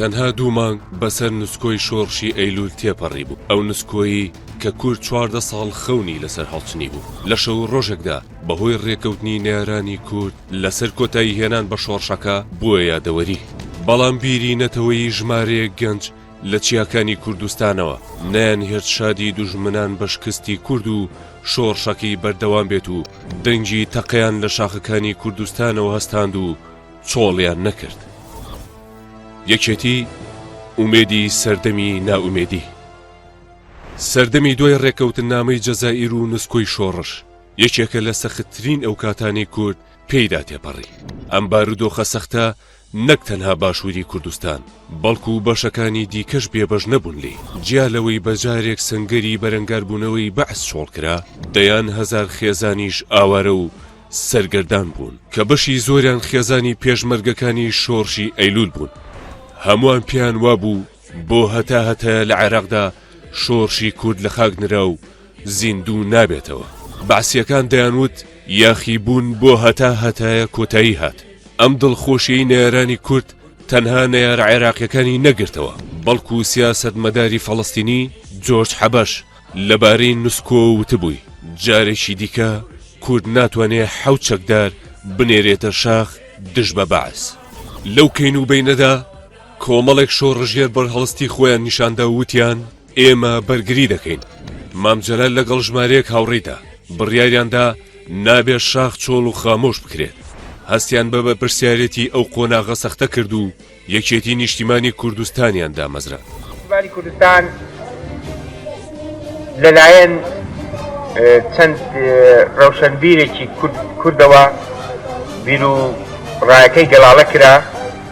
تەنها دوو مانگ بەسەر نسکۆی شۆڕشی ئەیلول تێپەڕی بوو ئەو نسکۆیی کە کورد چواردە ساڵ خەونی لەسەر هەڵچنی بوو لە شەو ڕۆژێکدا بەهۆی ڕێکەوتنی نارانی کورد لەسەر کۆتایی هێنان بە شۆڕشەکە بووە یادەوەری، بەڵام بیری نەتەوەیی ژمارەیەک گەنج لە چیاکانی کوردستانەوە نەیانهێشت شادی دوژمنان بە شکستی کورد و شۆڕشەکەی بەردەوام بێت و دەنگی تەقەیان لە شاخەکانی کوردستانەوە هەستاند و چۆڵیان نەکرد. یەکێتی، ئومێدی سەردەمی نائومێدی. سەردەمی دوای ڕێکەوتننامەی جەزائیر و نسکۆی شۆڕش، یەکێکە لە سەختترین ئەو کاتانەی کورد پێیدا تێپەڕی ئەم بارودۆخە سەختە نەک تەنها باشووری کوردستان بەڵکو و بەشەکانی دیکەش بێبەش نەبوون لێ جیا لەوەی بەجارێک سنگەری بەرەنگاربوونەوەی بەعس شۆڵکرا دەیان هەزار خێزانیش ئاوارە و سەرگەردان بوون کە بەشی زۆریان خێزانی پێشمەرگەکانی شۆڕشی ئەیلول بوون هەمووان پێیان وابوو بۆ هەتا هەتایە لە عێراقدا شۆرشی کورد لە خاک نرا و زیندوو نابێتەوە. بەعسیەکان دەیان وت یاخی بوون بۆ هەتا هەتایە کۆتایی هات. ئەم دڵخۆشیەی نەیارانی کورد تەنها نەیارە عێراقیەکانی نەگرتەوە، بەڵکو سیاسەت مەداری فەڵەستینی جۆرج حەبەش لە بارەی نسکۆ وتبووی جارێکی دیکە کورد ناتوانێ حەوت چەکدار بنێرێتە شاخ دژ بە بەعس. لەو کەین و بەینەدا، کۆمەڵێک شۆڕشگێر بەرهەڵستی خۆیان نیشاندا و وتیان ئێمە بەرگری دەکەین مام جەلال لەگەڵ ژمارەیەک هاوڕێیدا بڕیاریاندا نابێت شاخ چۆڵ و خامۆش بکرێت هەستیان بە بەرپرسیارەتی ئەو قۆناغە سەختە کرد و یەکێتی نیشتیمانی کوردستانیان دامەزرا نیشتیمانی کوردستان لەلایەن چەند ڕەوشەنبیرێکی کوردەوە بیر و ڕایەکەی گەڵاڵە کرا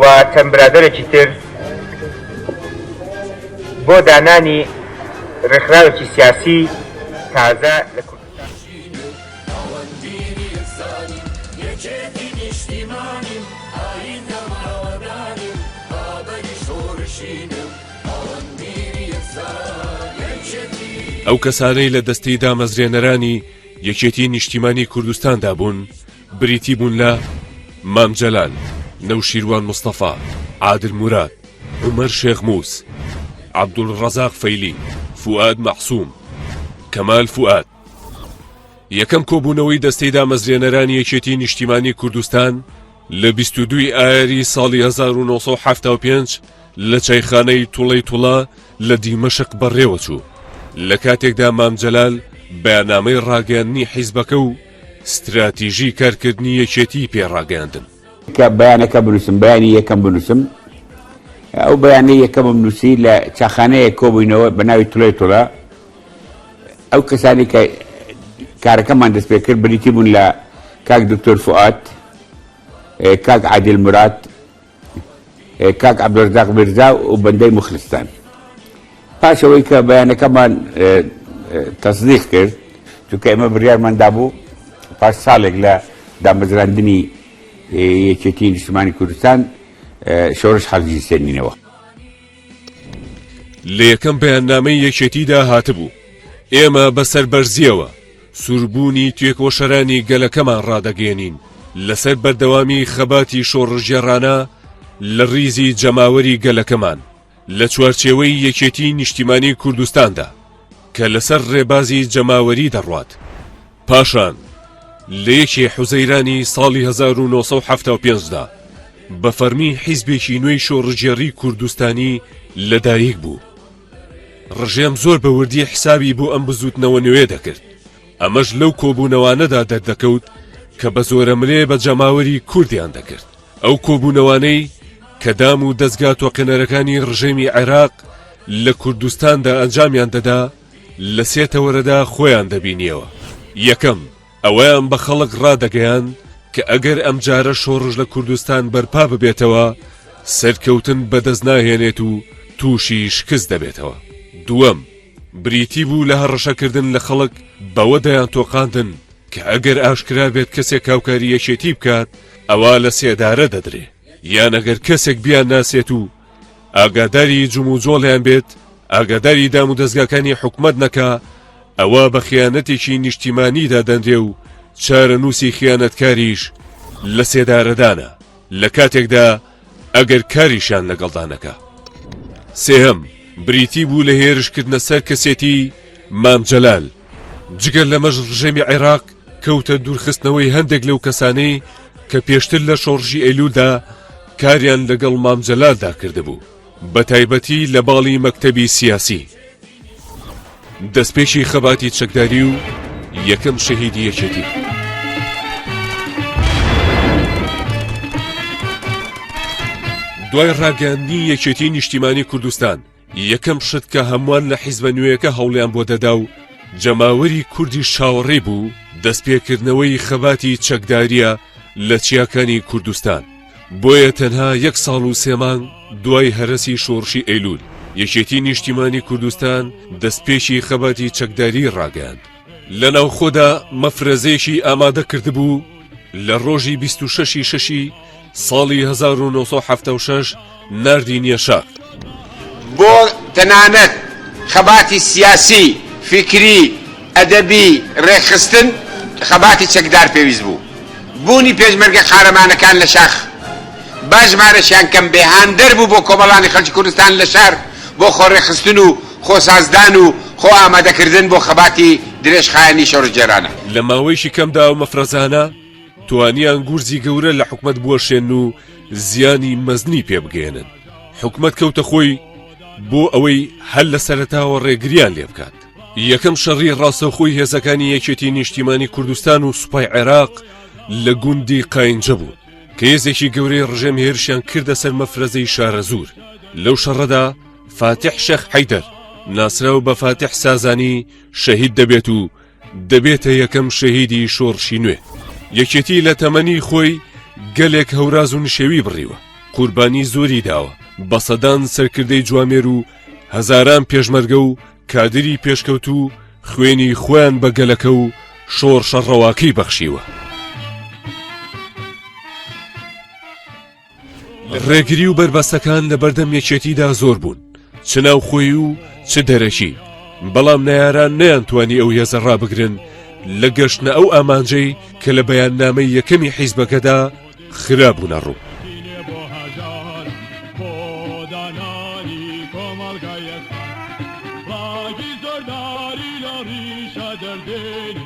و چەند برادەرێکی تر بۆ دانانی ڕێکخراوێکی سیاسی تازە لە کوردستان. ئەو کەسانەی لە دەستەی دامەزرێنەرانی یەکێتی نیشتیمانی کوردستاندا بوون، بریتی بوون لە، مام جەلال، نەوشیروان مستەفا، عادل موراد، عومەر شێخ موس، عەبدولڕەزاق فەیلی، فوئاد مەعسوم، کەمال فوئاد. یەکەم کۆبوونەوەی دەستەی دامەزرێنەرانی یەکێتیی نیشتیمانیی کوردستان لە بیست و دوو ی ئایاری ساڵی هەزار و نۆ سەد و حەفتا و پێنج لە چایخانەی توڵەیتوڵە لە دیمەشق بەڕێوەچوو، لە کاتێکدا مام جەلال بەیاننامەی ڕاگەیاندنی حیزبەکە و ستراتیژی کارکردنی یەکێتیی پێ ڕاگەیاندن. تکا بەیانەکە بنووسم بەیانی یەکەم بنووسم ئەو بەیانەی یەکەمم نووسی لە چاخانەیەک کۆبووینەوە بە ناوی تولەی تولە ئەو کەسانی کە کارەکەمان دەست پێ کرد بریتی بوون لە کاک دکتۆر فوئاد کاک عادل مراد کاک عبدالرزاق میرزا و بەندەی مخلستان پاش ئەوەی کە بەیانەکەمان تەصدیق کرد چونکە ئێمە بڕیارمان دابوو پاش ساڵێک لە دامەزراندنی یەکێتی نیشتمانی کوردستان شۆرش حەزی سێنینەوە لە یەکەم بەیاننامەی یەکێتیدا هاتبوو ئێمە بەسەر بەرزیەوە سوربوونی توێکۆشەرانی گەلەکەمان ڕادەگەێنین لەسەر بەردەوامی خەباتی شۆڕژێڕانە لە ڕیزی جەماوەری گەلەکەمان لە چوارچێوەی یەکێتی نیشتیمانی کوردستاندا کە لەسەر ڕێبازی جەماوەری دەڕوات پاشان لە یەکی حوزەیرانی ساڵی 1975 دا بە فەرمی حیزبێکی نوێی شۆڕژگێڕی کوردستانی لەدایک بوو. ڕژێم زۆر بە وردی حسابی بۆ ئەم بزوتنەوە نوێ دەکرد. ئەمەش لەو کۆبوونەوانەدا دەردەکەوت کە بە زۆرە ملێ بە جەماوەری کوردیان دەکرد. ئەو کۆبوونەوانەی کە دام و دەستگا تۆقێنەرەکانی ڕژێمی عێراق لە کوردستاندا ئەنجامیان دەدا، لە سێ تەوەرەدا خۆیان دەبینیەوە، یەکەم، ئەوەیان بە خەڵک ڕادەگەیاند کە ئەگەر ئەمجارە شۆڕش لە کوردستان بەرپا ببێتەوە، سەرکەوتن بەدەست ناهێنێت و تووشی شکست دەبێتەوە. دووەم، بریتی بوو لە هەڕەشەکردن لە خەڵک، بەوە دەیانتۆقاندن کە ئەگەر ئاشکرا بێت کەسێک هاوکاری یەکێتی بکات، ئەوا لە سێدارە دەدرێ، یان ئەگەر کەسێک بیانناسێت و، ئاگاداری جموجۆڵیان بێت ئاگاداری دام و دەستگاکانی حکومت نەکا ئەوە بە خیانەتێکی نیشتیمانی دادەنرێ و چارە نووسی خیانەتکاریش لە سێدارەدانە لە کاتێکدا ئەگەر کاریشان لەگەڵدانەکە سێهەم بریتی بوو لە هێرشکردنە سەر کەسێتی مام جەلال جگە لەمەش ڕژێمی عێراق کەوتە دوورخستنەوەی هەندێک لەو کەسانەی کە پێشتر لە شۆڕشی ئەیلولدا کاریان لەگەڵ مام جەلالدا کردبوو بە تایبەتی لە باڵی مەکتەبی سیاسی دەستپێکی خەباتی چەکداری و یەکەم شەهیدی یەکێتی. دوای ڕاگەاندنی یەکێتی نیشتیمانی کوردستان یەکەم شت کە هەمووان لە حیزبە نوێیەکە هەوڵیان بۆ دەدا و جەماوەری کوردی شاوەڕێی بوو دەستپێکردنەوەی خەباتی چەکداریە لە چیاکانی کوردستان بۆیە تەنها یەک ساڵ و سێمانگ دوای هەرەسی شۆڕشی ئەیلول یەکێتی نیشتیمانی کوردستان دەستپێکی خەباتی چەکداری ڕاگەاند لە ناوخۆدا مەفرەزەیەکی ئامادە کردبوو لە ڕۆژی 26 ی شەشی ساڵی 1970 ناردی نیەشا بۆ تەنانەت خەباتی سیاسی فیکری ئەدەبی ڕێکخستن خەباتی چەکدار پێویست بوو بوونی پێشمەرگە قارەمانەکان لە شاخ با ژمارەشیان کەم بێ هاندەر بوو بۆ کۆمەڵانی خەلکی کوردستان لە شار بۆ خۆڕێکخستن و خۆسازدان و خۆ ئامادەکردن بۆ خەباتی درێژخایەنی شۆڕشگێرانە. لە ماوەیەکی کەمدا ئەو مەفرەزانە توانیان گورزی گەورە لە حکومەت بوەشێن و زیانی مەزنی پێ بگەیەنن. حکومەت کەوتە خۆی بۆ ئەوەی هەر لە سەرەتاوە ڕێگریان لێ بکات. یەکەم شەڕی ڕاستەوخۆی هێزەکانی یەکێتی نیشتیمانی کوردستان و سوپای عێراق لە گوندی قاینجە بوو کە هێزێکی گەورەی ڕژێم هێرشیان کردە سەر مەفرەزەی شارەزوور لەو شەڕەدا فاتیح شێخ حەیدەر، ناسراو بە فاتیح سازانی، شەهید دەبێت و دەبێتە یەکەم شەهیدی شۆڕشی نوێ. یەکێتی لە تەمەنی خۆی گەلێک هەوراز و نشێوی بڕیوە، قوربانی زۆری داوە، بە سەدان سەرکردەی جوامێر و هەزاران پێشمەرگە و کادری پێشکەوتوو خوێنی خۆیان بە گەلەکە و شۆڕشە ڕەواکەی بەخشیوە. ڕێگری و بەربەستەکان لە بەردەم یەکێتیدا زۆر بوون چ ناوخۆی و چ دەرەکی بەڵام ناران نەیانتوانی ئەو هێزە ڕابگرن لە گەشتە ئەو ئامانجەی کە لە بەیان نامەی یەکەمی حیزبەکەدا خرابوونە ڕوو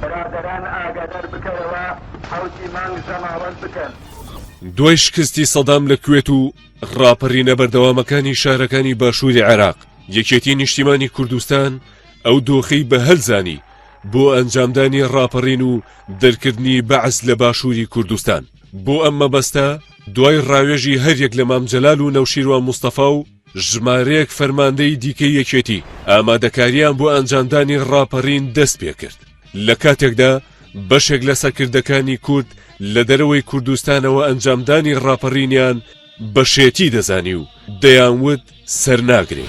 برادەران ئاگادار بکەرەوە حەوتی مانگ جەماوەر بکەن. دوای شکستی سەدام لە کوێت و ڕاپەڕینە بەردەوامەکانی شارەکانی باشووری عێراق یەکێتی نیشتیمانی کوردستان ئەو دۆخی بە هەلزانی بۆ ئەنجامدانی ڕاپەڕین و دەرکردنی بەعس لە باشووری کوردستان بۆ ئەم مەبەستە دوای ڕاوێژی هەریەک لە مام جەلال و نەوشیروان مستەفا و ژمارەیەک فەرماندەی دیکەی یەکێتی ئامادەکارییان بۆ ئەنجامدانی ڕاپەڕین دەست پێکرد لە کاتێکدا بەشێک لە سەرکردەکانی کورد لە دەرەوەی کوردستانەوە ئەنجامدانی ڕاپەڕینیان بەشێتی دەزانی و دەیانوت سەرناگرێ.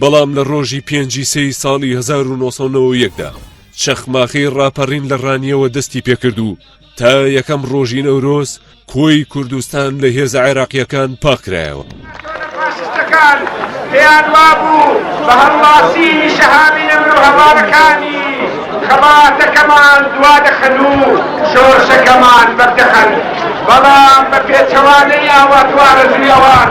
بەڵام لە ڕۆژی پێنجی سێی ساڵی 1991 دا چەخماخەی ڕاپەڕین لە ڕانیەوە دەستی پێکرد و تا یەکەم ڕۆژی نەورۆز کۆی کوردستان لە هێزە عێراقیەکان پاکرایەوە. پاشستەکان پێیان وابوو بە هەڵواسی شەهامی نەمر و هەوارەکانی خەباتەکەمان دوا دەخەن و شۆرشەکەمان بەر دەخەن بەڵام بە پێچەوانەی ئاوات و ئارەزووی ئەوان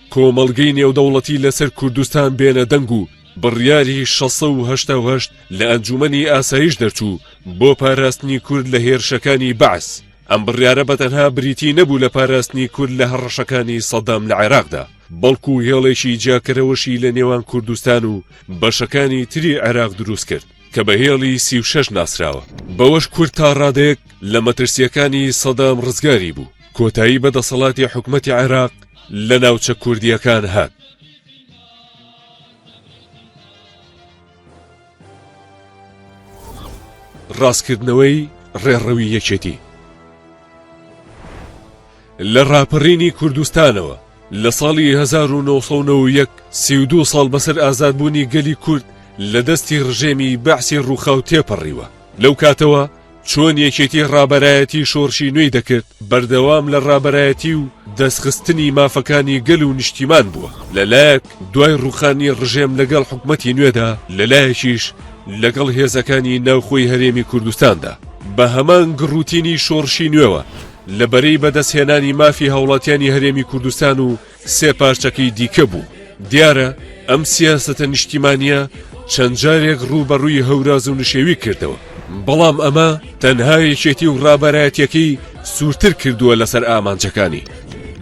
کۆمەڵگەی نێودەوڵەتی لەسەر کوردستان بێنە دەنگ و بڕیاری شەست سەد و هەشتا و هەشت لە ئەنجوومەنی ئاسایش دەرچوو بۆ پاراستنی کورد لە هێرشەکانی بەعس ئەم بڕیارە بە تەنها بریتی نەبوو لە پاراستنی کورد لە هەڕەشەکانی سەدام لە عێراقدا بەڵکو هێڵێکی جیاکەرەوەشی لە نێوان کوردستان و بەشەکانی تری عێراق دروست کرد کە بە هێڵی سی و شەش ناسراوە بەوەش کورد تا ڕادەیەک لە مەترسیەکانی سەدام ڕزگاری بوو کۆتایی بە دەسەڵاتی حکومەتی عێراق لە ناوچە کوردیەکان هات. ڕاستکردنەوەی ڕێڕەوی یەکێتی لە ڕاپەڕینی کوردستانەوە لە ساڵی 1990 سیدو ساڵ بەسەر ئازادبوونی گەلی کورد لە دەستی ڕژێمی بەعسی ڕووخاو تێپەڕیوە لەو کاتەوە چۆن یەکێتی ڕابەرایەتی شۆڕشی نوێی دەکرد بەردەوام لە ڕابەرایەتی و دەستخستنی مافەکانی گەل و نیشتیمان بووە لەلایەک دوای ڕوخانی ڕژێم لەگەڵ حکومەتی نوێدا لەلایەکیش لەگەڵ هێزەکانی ناوخۆی هەرێمی کوردستاندا بە هەمان گڕوتینی شۆڕشی نوێوە لە بەرەی بەدەستهێنانی مافی هاوڵاتیانی هەرێمی کوردستان و سێ پارچەکەی دیکە بوو. دیارە ئەم سیاسەتە نیشتیمانییە چەند جارێک ڕووبەڕووی هەوراز و نشێوی کردەوە، بەڵام ئەمە تەنها یەکێتی و ڕابەرایەتییەکەی سوورتر کردووە لەسەر ئامانجەکانی.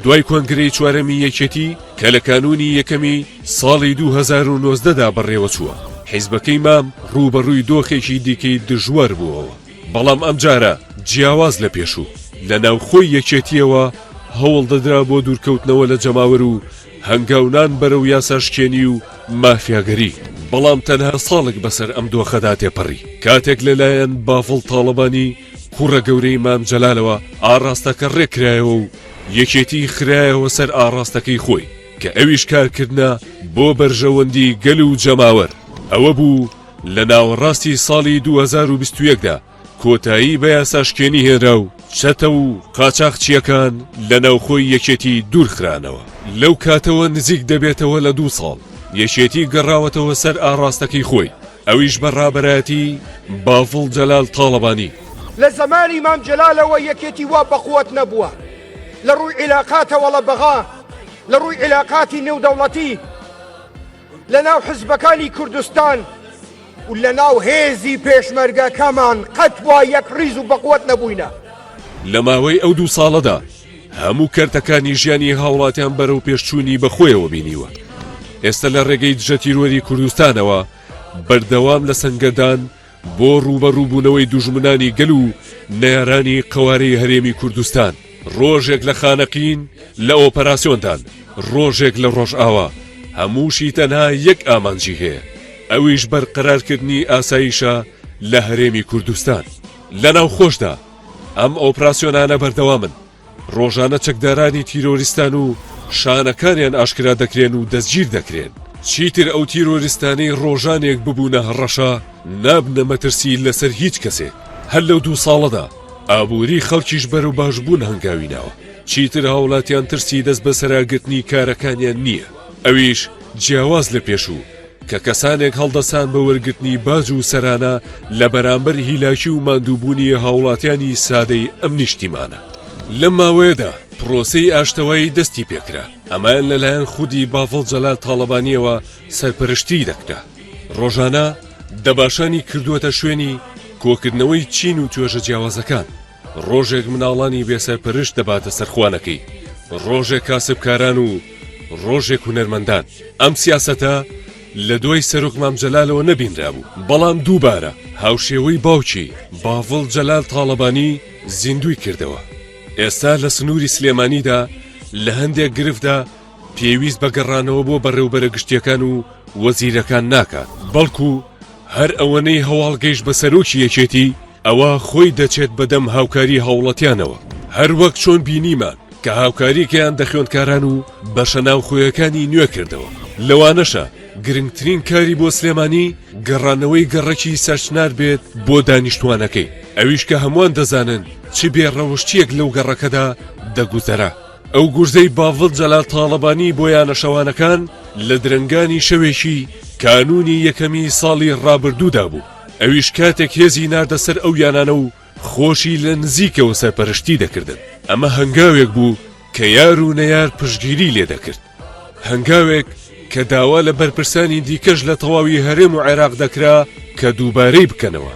دوای کۆنگرەی چوارەمی یەکێتی کە لە کانوونی یەکەمی ساڵی دوو هەزار و نۆزدە دا بەڕێوەچووە، حیزبەکەی مام ڕووبەڕووی دۆخێکی دیکەی دژوار بووەوە. بەڵام ئەمجارە جیاواز لە پێشوو، لە ناوخۆی یەکێتییەوە هەوڵ دەدرا بۆ دوورکەوتنەوە لە جەماوەر و هەنگاونان بەرەو یاساشکێنی و مافیاگەری، بەڵام تەنها ساڵێک بەسەر ئەم دۆخەدا تێپەڕی، کاتێک لەلایەن بافڵ تاڵەبانی کوڕە گەورەی مام جەلالەوە ئاڕاستەکە رێککرایەوە و یەکێتی خرایەوە سەر ئاڕاستەکەی خۆی، کە ئەویش کارکردنە بۆ بەرژەوەندی گەل و جەماوەر، ئەوەبوو، لە ناوەڕاستی ساڵی دوو هەزار و بیست و یەک دا کۆتایی بە یاساشکێنی هێنرا و چەتە و قاچاخچییەکان لە ناوخۆی یەکێتی دوورخرانەوە. لەو کاتەوە نزیک دەبێتەوە لە دوو ساڵ یەکێتی گەڕاوەتەوە سەر ئاڕاستەکەی خۆی، ئەویش بە ڕابەرایەتی باڤڵ جەلال تاڵەبانی. لە زەمانی مام جەلالەوە یەکێتی وا بەقوەت نەبووە لە ڕووی عیلاقاتەوەڵە بەغا لە ڕووی عیلاقاتی نێودەوڵەتی. لە ناو حزبەکانی کوردستان و لە ناو هێزی پێشمەرگەکەمان قەت وا یەک ڕیز و بەقوەت نەبووینە. لە ماوەی ئەو دوو ساڵەدا هەموو کەرتەکانی ژیانی هاوڵاتیان بەرەو پێشچوونی بە خۆیەوە بینیوە. ئێستە لە ڕێگەی دژەتیرۆری کوردستانەوە بەردەوام لە سەنگەردان بۆ ڕووبەڕووبوونەوەی دوژمنانی گەل و نەیارانی قەوارەی هەرێمی کوردستان، ڕۆژێک لە خانەقین لە ئۆپەراسیۆندان، ڕۆژێک لە ڕۆژئاوا، هەمووشی تەنها یەک ئامانجی هەیە، ئەویش بەرقەرارکردنی ئاسایشە لە هەرێمی کوردستان. لە ناوخۆشدا ئەم ئۆپراسیۆنانە بەردەوامن. ڕۆژانە چەکدارانی تیرۆریستان و شانەکانیان ئاشکرا دەکرێن و دەستگیر دەکرێن. چیتر ئەو تیرۆریستانەی ڕۆژانێک ببوونە هەڕەشە نابنە مەترسی لەسەر هیچ کەسێک. هەر لەو دوو ساڵەدا ئابووری خەڵکیش بەرەو باشبوون هەنگاوی ناوە. چیتر هاوڵاتیان ترسی دەست بەسەراگرتنی کارەکانیان نییە، ئەویش جیاواز لە پێشوو. کە کەسانێک هەڵدەسان بە وەرگرتنی باج و سەرانە لە بەرامبەر هیلاکی و ماندووبوونی هاوڵاتیانی سادەی ئەم نیشتیمانە لە ماوەیەدا پرۆسەی ئاشتەوایی دەستی پێکرا ئەمەیان لەلایەن خودی بافڵ جەلال تاڵەبانیەوە سەرپەرشتی دەکرا ڕۆژانە دەباشانی کردووەتە شوێنی کۆکردنەوەی چین و توێژە جیاوازەکان ڕۆژێک مناڵانی بێ سەرپەرشت دەباتە سەر خوانەکەی ڕۆژێک کاسبکاران و ڕۆژێک هونەرمەندان ئەم سیاسەتە لە دوای سەرۆک مام جەلالەوە نەبینرابوو بەڵام دووبارە هاوشێوەی باوکی باڤڵ جەلال تاڵەبانی زیندوی کردەوە ئێستا لە سنووری سلێمانیدا لە هەندێک گرفتدا پێویست بە گەڕانەوە بۆ بەڕێوبەرە گشتیەکان و وەزیرەکان ناکات بەڵکو هەر ئەوەنەی هەواڵ گەیشت بە سەرۆکی یەکێتی، ئەوا خۆی دەچێت بە دەم هاوکاری هاوڵەتیانەوە، هەر وەک چۆن بینیمان کە هاوکاری گەیاندە خوێندکاران و بەشە ناوخۆیەکانی نوێ کردەوە، لەوانەشە گرنگترین کاری بۆ سلێمانی گەڕانەوەی گەڕەکی سەرچنار بێت بۆ دانیشتوانەکەی، ئەویش کە هەموان دەزانن چ بێ ڕەوشتیەک لەو گەڕەکەدا دەگوزەرا. ئەو گورزەی باڤڵ جەلال تاڵەبانی بۆ یانە شەوانەکان لە درەنگانی شەوێکی کانوونی یەکەمی ساڵی ڕابردوودا بوو ئەویش کاتێک هێزی ناردە سەر ئەو یانانە و خۆشی لە نزیکەوە سەرپەرشتی دەکردن ئەمە هەنگاوێک بوو کە یار و نەیار پشگیری لێ دەکرد هەنگاوێک کە داوا لە بەرپرسانی دیکەش لە تەواوی هەرێم و عێراق دەکرا کە دووبارەی بکەنەوە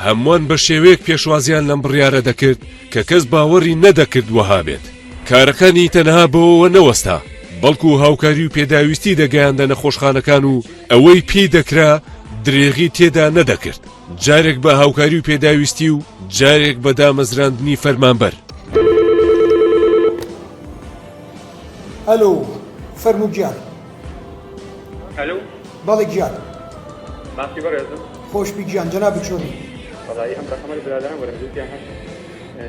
هەموان بە شێوەیەک پێشوازیان لەم بڕیارە دەکرد کە کەس باوەڕی نەدەکرد وەها بێت. کارەکانی تەنها بەوەوە نەوەستا، بەڵکو هاوکاری و پێداویستی دەگەیاندە نەخۆشخانەکان و ئەوەی پێی دەکرا درێغی تێدا نەدەکرد، جارێک بە هاوکاری و پێداویستی و جارێک بە دامەزراندنی فەرمانبەر. ئەلۆ، فەرموو گیان. هەلو بەڵێ گیان ماسی بەڕێزم خۆشبی گیان جەنابی چۆنی بەڵی ئەم بەخەمەر برادان وەرم دووتیان هەشت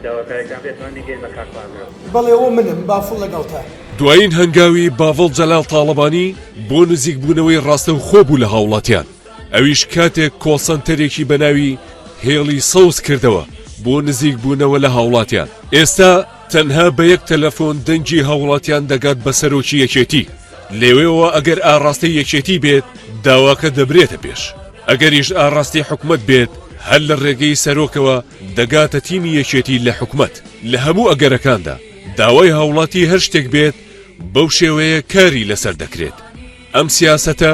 داواکارێکان بێتمان نگەین بە کارخوازەوە بەڵێ ئەوە منم بافڵ لەگەڵتە دوایین هەنگاوی باڤڵ جەلال تاڵەبانی بۆ نزیکبوونەوەی ڕاستەوخۆ بوو لە هاوڵاتیان ئەویش کاتێک کۆڵسەنتەرێکی بە ناوی هێڵی سەوز کردەوە بۆ نزیکبوونەوە لە هاوڵاتیان ئێستا تەنها بە یەک تەلەفۆن دەنگی هاوڵاتیان دەگات بە سەرۆکی یەکێتی لێوێەوە ئەگەر ئاڕاستەی یەکێتی بێت داواکە دەبرێتە پێش ئەگەریش ئاڕاستی حکومت بێت هەر لە ڕێگەی سەرۆکەوە دەگاتە تیمی یەکێتی لە حکومت لە هەموو ئەگەرەکاندا داوای هاوڵاتی هەر شتێک بێت بەو شێوەیە کاری لەسەر دەکرێت ئەم سیاسەتە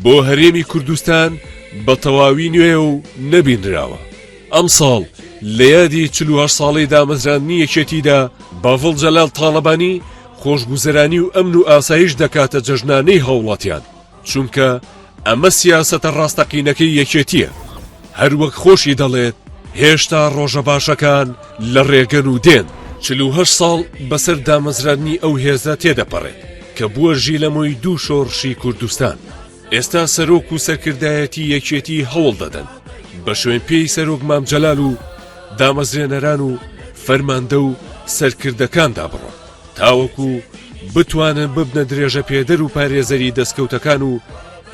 بۆ هەرێمی کوردستان بە تەواوی نوێ و نەبینراوە ئەمساڵ لە یادی چل و هەشت ساڵەی دامەزراندنی یەکێتیدا، باڤڵ جەلال تاڵەبانی خۆشگوزەرانی و ئەمن و ئاسایش دەکاتە جەژنانەی هاوڵاتیان، چونکە ئەمە سیاسەتە ڕاستەقینەکەی یەکێتییە. هەر وەک خۆشی دەڵێت، هێشتا ڕۆژە باشەکان لە ڕێگەن و دێن. چل و هەشت ساڵ بەسەر دامەزراندنی ئەو هێزە تێدەپەڕێت، کە بووە ژیلەمۆی دوو شۆڕشی کوردستان. ئێستا سەرۆک و سەرکردایەتی یەکێتی هەوڵ دەدەن بە شوێن پێی سەرۆک مام جەلال و دامەزرێنەران و فەرماندە و سەرکردەکاندا بڕۆن تاوەکو بتوانن ببنە درێژە پێدەر و پارێزەری دەستکەوتەکان و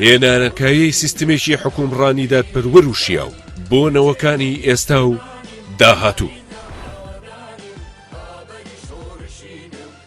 هێنانەکایەی سیستمێکی حکومڕانی دادپەروەر و شیاو بۆ نەوەکانی ئێستا و داهاتوو.